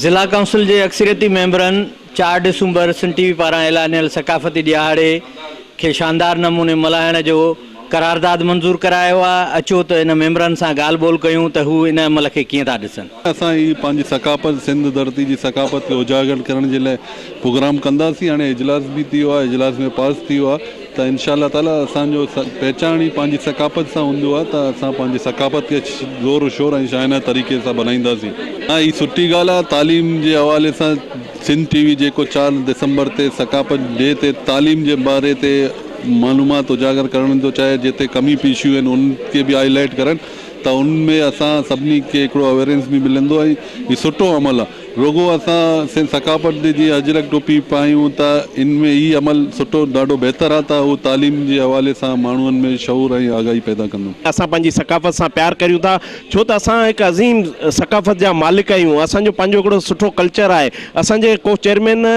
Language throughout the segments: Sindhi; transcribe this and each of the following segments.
ضلع ڪائونسل جي اڪثريتي ميمبرن چار ڊسمبر سنڌ ٽي وي پاران اعلانيل ثقافتي ڏهاڙي کي شاندار نموني ملهائڻ جو قرارداد منظور ڪرايو آ، اچو ته ان ميمبرن سان ڳالهه ٻولهه ڪيون ته هو ان عمل کي ڪيئن ٿا ڏسن. اسان هي پنهنجي ثقافت سنڌ ڌرتي جي ثقافت کي اجاگر ڪرڻ جي لاء پروگرام ڪنداسين هاڻي اجلاس به ٿيو آ اجلاس ۾ پاس ٿيو آ ته انشاء الله تعالي اسان جو پهچاڻ ئي پنهنجي ثقافت سان هوندو آ ته اسان پنهنجي ثقافت کي زور و شور ۽ شاهانه طريقي سان بنائينداسين. ها هي سٺي ڳالهه آ تعليم جي حوالي سان سنڌ ٽي وي جيڪو چار دسمبر تي ثقافت ڊي تي تعليم جي باري تي معلومات اجاگر ڪرڻ ٿو چاهي جنهن تي ڪمي پيشيون آهن انهن کي به هائي لائيٽ ڪرڻ ته ان ۾ اسان سڀني کي هڪڙو اويرنس به ملندو ۽ هي سٺو عمل آهي رڳو اسان سنڌ ثقافت جي جيئن اجرڪ ٽوپي پايون ته ان ۾ هي عمل سٺو ڏاڍو بهتر آهي ته اهو تعليم جي حوالي سان ماڻهن ۾ شعور ۽ آگاهي پيدا ڪندو. اسان پنهنجي ثقافت سان پيار ڪريون ٿا ڇو ته اسان هڪ عظيم ثقافت جا مالڪ آهيون اسان جو پنهنجو هڪڙو سٺو ڪلچر آهي اسان جي ڪو چيئرمين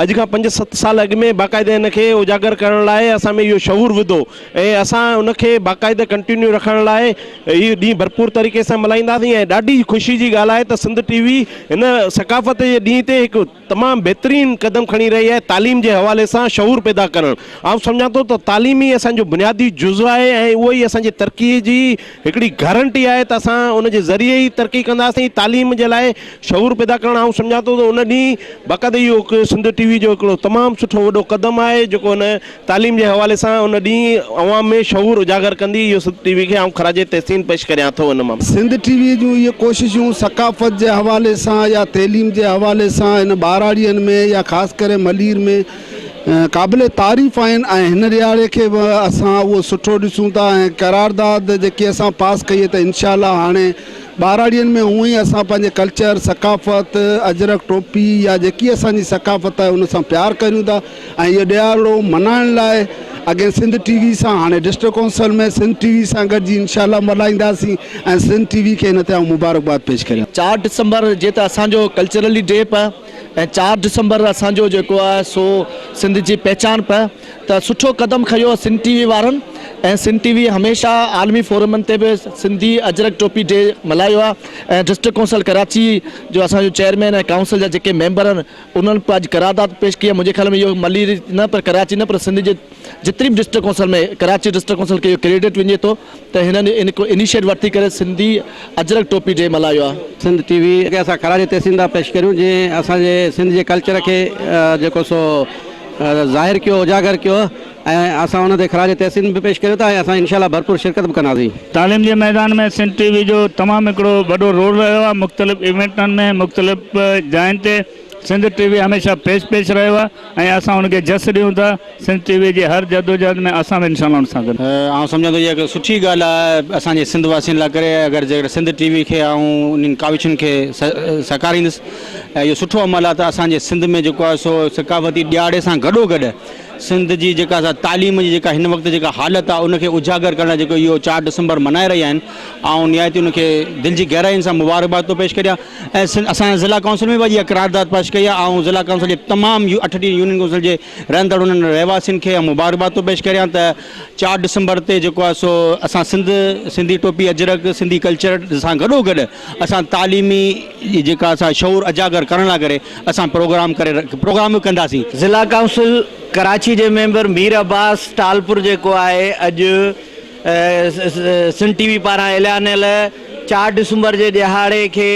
اڄ کان پنج ست سال اڳ ۾ باقاعده ان کي اجاگر ڪرڻ لاء اسان ۾ اهو شعور وڌو ۽ اسان ان کي باقاعده ڪنٽينيو رکڻ لاء اهي ڏينهن ڀرپور طريقي سان ملهائينداسين ۽ ڏاڍي خوشي جي ڳالهه آهي ته سنڌ ٽي وي هن ثقافت جي ڏينهن تي هڪ تمام بهترين قدم کڻي رهي آهي تعليم جي حوالي سان شعور پيدا ڪرڻ آئون سمجهان ٿو ته تعليم ئي اسان جو بنيادي جزو آهي ۽ اهو ئي اسان جي ترقي جي هڪڙي گارنٽي آهي ته اسان ان جي ذريعي ئي ترقي ڪنداسين، تعليم جي لاء شعور پيدا ڪرڻ آئون سمجهان ٿو ته ان ڏينهن باقاعده اهو هڪ سنڌ ٽي وي جو هڪڙو تمام سٺو وڏو قدم آهي جيڪو ان تعليم جي حوالي سان ان ڏينهن عوام ۾ شعور اجاگر ڪندي اهو سنڌ ٽي وي کي آئون خراج تحسين پيش ڪريان ٿو ان مان سنڌ ٽي وي جون اهي ڪوششون ثقافت جي حوالي سان يا تعليم جي حوالي سان هن ٻهراڙين ۾ يا خاص ڪري ملير ۾ قابل تعريف آهن ۽ هن ڏهاڙي کي به اسان اهو سٺو ڏسون ٿا ۽ قرارداد جيڪي اسان پاس ڪئي ته انشاء الله هاڻي ٻهراڙين ۾ هونئن ئي اسان پنهنجي ڪلچر ثقافت اجرڪ ٽوپي يا جيڪي اسان جي ثقافت آهي ان سان پيار ڪريون ٿا ۽ اهو ڏهاڙو ملهائڻ لاء اڳي سنڌ ٽي وي سان هاڻي ڊسٽرڪ ڪونسل ۾ سنڌ ٽي وي سان گڏجي انشاء الله ملهائينداسين ۽ سنڌ ٽي وي کي هن تي آئون مبارڪباد پيش ڪريان ٿو. چار ڊسمبر جي ته اسان جو ڪلچرلي ڊي به ۽ چار ڊسمبر اسان جو جيڪو آ سو سنڌ جي پهچان پئه ته سٺو قدم کنيو آ سنڌ ٽي وي وارن ۽ سنڌ ٽي وي هميشه عالمي فورمن تي به سنڌي اجرڪ ٽوپي ڊي ملهايو آ ۽ ڊسٽرڪ ڪونسل ڪراچي جو اسان جو چيئرمين ۽ ڪائونسل جا جيڪي ميمبر آن انهن پنهنجي قرارداد پيش ڪئي آ منهنجي خيال ۾ اهو ملي نه پر ڪراچي نه پر سنڌ جي جتري به district council ۾ Karachi district council کي اهو ڪريڊٽ وڃي ٿو. ته هنن هڪ انيشيٽ ورتي ڪري سنڌي اجرڪ ٽوپي ڊي ملهايو آهي. سنڌ ٽي وي کي اسان خراج تحسين ٿا پيش ڪريون جنهن اسان جي سنڌ جي ڪلچر کي جيڪو سو ظاهر ڪيو اجاگر ڪيو ۽ اسان ان تي خراج تحسين به پيش ڪريون ٿا ۽ اسان انشاء الله ڀرپور شرڪت به ڪنداسين. تعليم جي ميدان ۾ سنڌ ٽي وي جو تمام هڪڙو وڏو رول رهيو آهي مختلف ايونٽن ۾ مختلف جاين تي. سنڌ ٽي وي هميشه پيش پيش رهيو آهي ۽ اسان ان کي جس ڏيون ٿا سنڌ ٽي وي جي هر جدوجهد ۾ اسان به انشاء الله ان سان گڏ. آئون سمجهان ٿو اها هڪ سٺي ڳالهه آهي اسان جي سنڌ واسين لاء ڪري اگر جيڪڏهن سنڌ ٽي وي کي آئون انهن ڪاوشن کي سهڪاريندس ۽ اهو سٺو عمل آهي ته اسان جي سنڌ ۾ جيڪو آهي سو ثقافتي ڏيهاڙي سان گڏو گڏ سنڌ جي جيڪا سا تعليم جي جيڪا هن وقت جيڪا حالت آهي ان کي اجاگر ڪرڻ لاء جيڪو اهو چار ڊسمبر ملهائي رهيا آهن آئون نهايت ان کي دل جي گهرائين سان مبارڪباد ٿو پيش ڪريان. ۽ اسان ضلع ڪائونسل ۾ به اڄ اها قرارداد پيش ڪئي آهي آئون ضلع ڪائونسل جي تمام اٺ ڊي يونين ڪائونسل جي رهندڙ انهن رهواسين کي مبارڪباد ٿو پيش ڪريان ته چار ڊسمبر تي جيڪو آهي سو اسان سنڌ سنڌي ٽوپي اجرڪ سنڌي ڪلچر سان گڏو گڏ اسان تعليمي جيڪا اسان شعور اجاگر ڪرڻ لاء ڪري اسان پروگرام ڪري پروگرام به ڪنداسين. ضلع ڪائونسل ڪراچي جي ميمبر مير عباس ٽالپر جيڪو آهي اڄ سنڌ ٽي وي پاران اليانيل چار ڊسمبر جي ڏهاڙي کي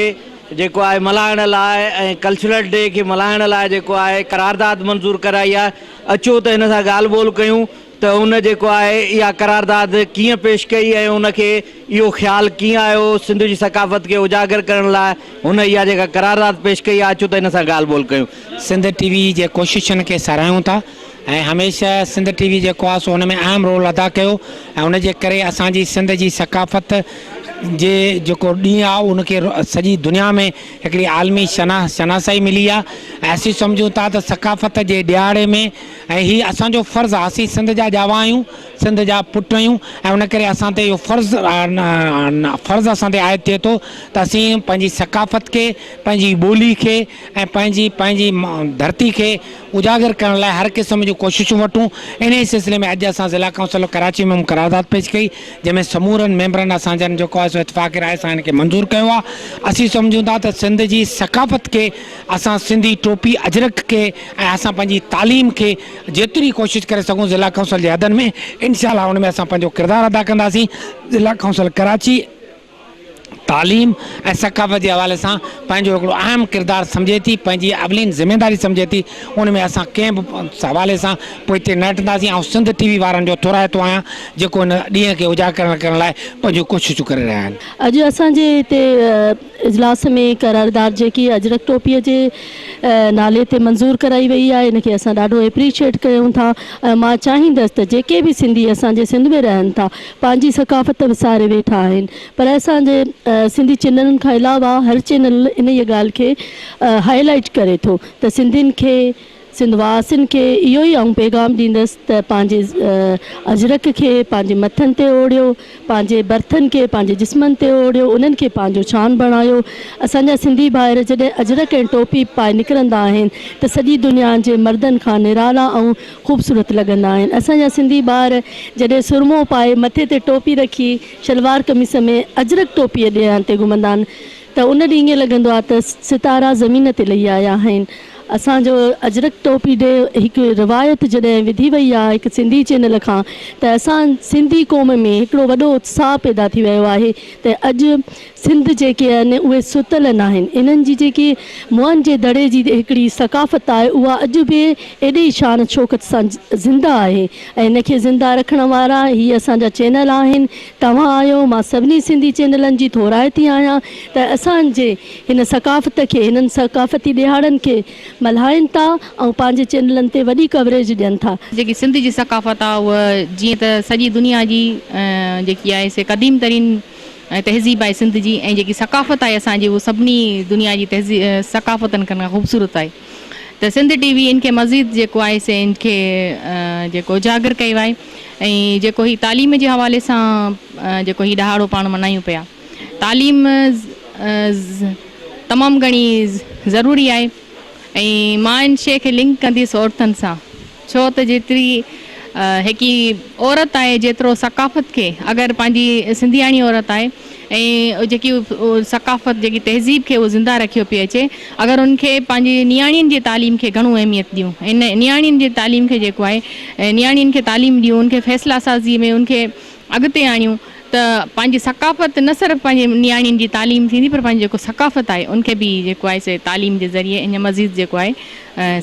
جيڪو آهي ملهائڻ لاء ۽ ڪلچرل ڊي کي ملهائڻ لاء جيڪو آهي قرارداد منظور ڪرائي آهي اچو ته هن سان ڳالهه ٻولهه ڪيون ته هن جيڪو آهي اها قرارداد ڪيئن پيش ڪئي ۽ هن کي اهو خيال ڪيئن آيو سنڌ جي ثقافت کي اجاگر ڪرڻ لاء هن اها جيڪا قرارداد پيش ڪئي آهي اچو ته هن سان ڳالهه ٻولهه ڪيون. سنڌ ٽي وي جي ڪوششن کي ساراهيون ٿا ۽ هميشه سنڌ ٽي وي جيڪو آهي سو ان ۾ اهم رول ادا ڪيو ۽ ان جي ڪري اسان جي سنڌ جي ثقافت جي جيڪو ڏينهن آهي ان کي سڄي دنيا ۾ هڪڙي عالمي شناس شناسائي ملي آهي ۽ اسين سمجهون ٿا ته ثقافت جي ڏهاڙي ۾ ۽ هي اسان جو فرض آهي اسين سنڌ جا ڄاوا آهيون سنڌ جا پٽ آهيون ۽ ان ڪري اسان تي اهو فرض فرض اسان تي عائد ٿئي ٿو ته اسين پنهنجي ثقافت کي پنهنجي ٻولي کي ۽ پنهنجي پنهنجي ڌرتي کي اجاگر ڪرڻ لاء هر قسم جون ڪوششون وٺون، انهيء سلسلي ۾ اڄ اسان ضلع ڪائونسل آف ڪراچي ۾ هم قرارداد پيش ڪئي، جنهن ۾ سمورن ميمبرن اسان جن جيڪو آهي سو اتفاق راء سان ان کي منظور ڪيو آهي، اسين سمجهون ٿا ته سنڌ جي ثقافت کي اسان سنڌي ٽوپي اجرڪ کي ۽ اسان پنهنجي تعليم کي جيتري ڪوشش ڪري سگهون ضلع ڪائونسل جي حدن ۾ انشاء الله ان ۾ اسان پنهنجو ڪردار ادا ڪنداسين، ضلع ڪائونسل ڪراچي. تعليم ۽ ثقافت جي حوالي سان پنهنجو هڪڙو اهم ڪردار سمجهي ٿي، پنهنجي اولين ذميواري سمجهي ٿي، ان ۾ اسان ڪنهن به حوالي سان پوئتي نه هٽنداسين، آئون سنڌ ٽي وي وارن جو ٿورائتو آهيان جيڪو ان ڏينهن کي اجاگر ڪرڻ لاء پنهنجون ڪوششون ڪري رهيا آهن. اڄ اسان جي هتي اجلاس ۾ قرارداد جيڪي اجرڪ ٽوپي جي نالي تي منظور ڪرائي وئي آهي ان کي اسان ڏاڍو اپريشيئٽ ڪيون ٿا ۽ مان چاهيندس ته جيڪي به سنڌي اسان جي سنڌ ۾ رهن ٿا پنهنجي ثقافت وساري ويٺا آهن پر اسان جي سنڌي چينلن کان علاوه هر چينل انهيء ڳالهه کي هائي لائيٽ ڪري ٿو ته سنڌين کي سنڌ واسين کي اهو ئي آئون پيغام ڏيندس ته پنهنجي اجرڪ کي پنهنجي مٿن تي اوڙهيو پنهنجي برٿن کي پنهنجي جسمن تي اوڙهيو انهن کي پنهنجو شان بڻايو اسان جا سنڌي ڀائر جڏهن اجرڪ ۽ ٽوپي پائي نڪرندا آهن ته سڄي دنيا جي مردن کان نرالا ۽ خوبصورت لڳندا آهن اسان جا سنڌي ٻار جڏهن سرمو پائي مٿي تي ٽوپي رکي شلوار قميص ۾ اجرڪ ٽوپي ڏيان تي گهمندا آهن ته ان ڏينهن ائين لڳندو آهي ته ستارا زمين تي لهي آيا آهن اسان جو اجرڪ ٽوپي ڏي هڪ روايت جڏهن وڌي وئي آهي هڪ سنڌي چينل کان ته اسان سنڌي قوم ۾ هڪڙو وڏو اتساهه پيدا ٿي ويو آهي ته اڄ سنڌ جيڪي آهن اهي ستل ناهن، انهن جي جيڪي موئن جي دڙي جي هڪڙي ثقافت آهي اها اڄ به ايڏي ئي شان شوڪت سان زنده آهي ۽ ان کي زنده رکڻ وارا هي اسان جا چينل آهن توهان آهيو مان سڀني سنڌي چينلن جي ٿورائتي آهيان ته اسان جي هن ثقافت کي هنن ثقافتي ڏهاڙن کي ملهائين ٿا ۽ پنهنجي چينلن تي وڏي ڪوريج ڏين ٿا. جيڪي سنڌ جي ثقافت آهي اها جيئن ته سڄي دنيا جي جيڪي آهي سي قديم ترين. ۽ تهذيب آهي سنڌ جي ۽ جيڪي ثقافت آهي اسان جي اهو سڀني دنيا جي تهذيب ثقافتن کان خوبصورت آهي ته سنڌ ٽي وي ان کي مزيد جيڪو آهي سي ان کي جيڪو اجاگر ڪيو آهي ۽ جيڪو هي تعليم جي حوالي سان جيڪو هي ڏهاڙو پاڻ ملهايون پيا تعليم تمام گهڻي ضروري آهي ۽ مان ان شيء کي لنڪ ڪنديس عورتن سان ڇو ته جيتري هڪي عورت آهي جيترو ثقافت کي اگر پنهنجي سنڌياڻي عورت آهي ۽ جيڪي ثقافت جيڪي تهذيب کي اهو زنده رکيو پئي اچي اگر ان کي پنهنجي نياڻين جي تعليم کي گهڻو اهميت ڏيون ۽ نياڻين جي تعليم کي جيڪو آهي نياڻين کي تعليم ڏيون ان کي فيصلا سازي ۾ ان کي اڳتي آڻيون ته پنهنجي ثقافت نه صرف پنهنجي نياڻين جي تعليم ٿيندي پر پنهنجي جيڪو ثقافت آهي ان کي به جيڪو آهي سي تعليم جي ذريعي اڃا مزيد جيڪو آهي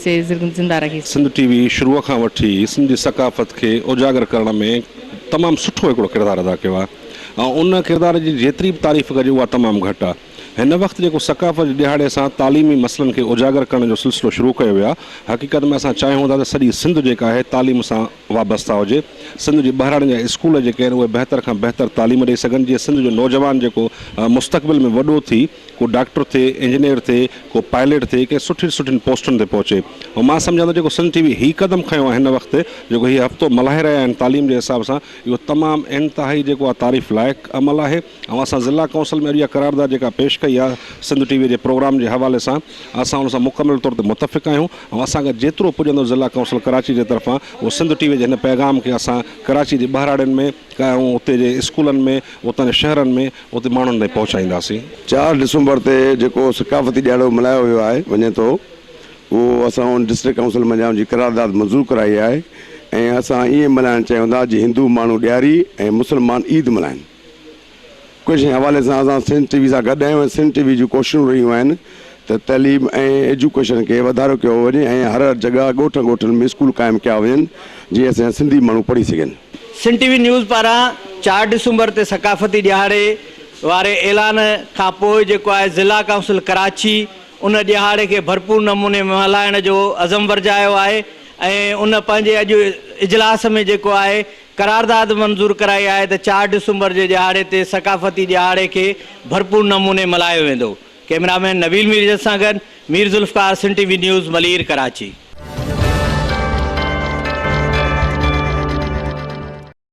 سي زنده رکي سگهندي. سنڌ ٽي وي شروع کان وٺي سنڌي ثقافت کي اجاگر ڪرڻ ۾ تمام سٺو هڪڙو ڪردار ادا ڪيو آهي ۽ ان ڪردار جي جيتري به تعريف ڪجي اها تمام گهٽ آهي هن وقت جيڪو ثقافت جي ڏهاڙي سان تعليمي مسئلن کي اجاگر ڪرڻ جو سلسلو شروع ڪيو ويو آهي حقيقت ۾ اسان چاهيون ٿا ته سڄي سنڌ جيڪا آهي تعليم سان وابسته هجي، سنڌ جي ٻهراڙين جا اسڪول جيڪي آهن اهي بهتر کان بهتر تعليم ڏئي سگهن جيئن سنڌ جو نوجوان جيڪو مستقبل ۾ وڏو ٿي ڪو ڊاڪٽر ٿئي، انجنيئر ٿئي، ڪو پائليٽ ٿئي ڪنهن سٺين سٺين پوسٽن تي پهچي ۽ مان سمجهان ٿو جيڪو سنڌ ٽي وي هي قدم کنيو آهي هن وقت جيڪو هي هفتو ملهائي رهيا آهن تعليم جي حساب سان اهو تمام انتهائي جيڪو آهي تعريف لائق عمل آهي. اوهان سان ضلع ڪونسل ۾ اڄ اها قرارداد جيڪا پيش ڪئي آهي سنڌ ٽي وي جي پروگرام جي حوالي سان اسان ان سان مڪمل طور تي متفق آهيون ۽ اسان کان جيترو پڄندو ضلع ڪونسل ڪراچي جي طرفان اهو سنڌ ٽي وي جي هن پيغام کي اسان ڪراچي جي ٻهراڙين ۾ ۽ اتي جي اسڪولن ۾ اتان جي شهرن ۾ اتي ماڻهن تائين پهچائينداسين. چار ڊسمبر تي جيڪو ثقافتي ڏيهاڙو ملهايو ويو آهي وڃي ٿو اهو اسان ان ڊسٽرڪٽ ڪونسل منجهان جي قرارداد منظور ڪرائي آهي ۽ اسان ائين ملهائڻ چاهيون ٿا جيئن هندو ماڻهو ڏيهاري ۽ مسلمان عيد ملهائين. ڪجهه حوالي سان اسان سنڌ ٽي وي سان گڏ آهيون ۽ سنڌ ٽي وي جون ڪوششون رهيون آهن ته تعليم ۽ ايجوڪيشن کي وڌارو ڪيو وڃي ۽ هر هر جڳهه ڳوٺن ڳوٺن ۾ اسڪول قائم ڪيا وڃن جيئن اسانجا سنڌي ماڻهو پڙهي سگهن. سنڌ ٽي وي نيوز پاران چار ڊسمبر تي ثقافتي ڏهاڙي واري اعلان کان پوء جيڪو آهي ضلع ڪائونسل ڪراچي ان ڏهاڙي کي ڀرپور نموني ۾ ملهائڻ جو عزم ورجايو آهي ۽ ان پنهنجي اڄ اجلاس ۾ جيڪو آهي قرارداد منظور ڪرائي آهي ته چار ڊسمبر جي ڏهاڙي تي ثقافتي ڏهاڙي کي ڀرپور نموني ملهايو ويندو. ڪئميرا مين نبيل ميرجس سان گڏ مير ذوالفقار سنڌ ٽي وي نيوز ملير ڪراچي.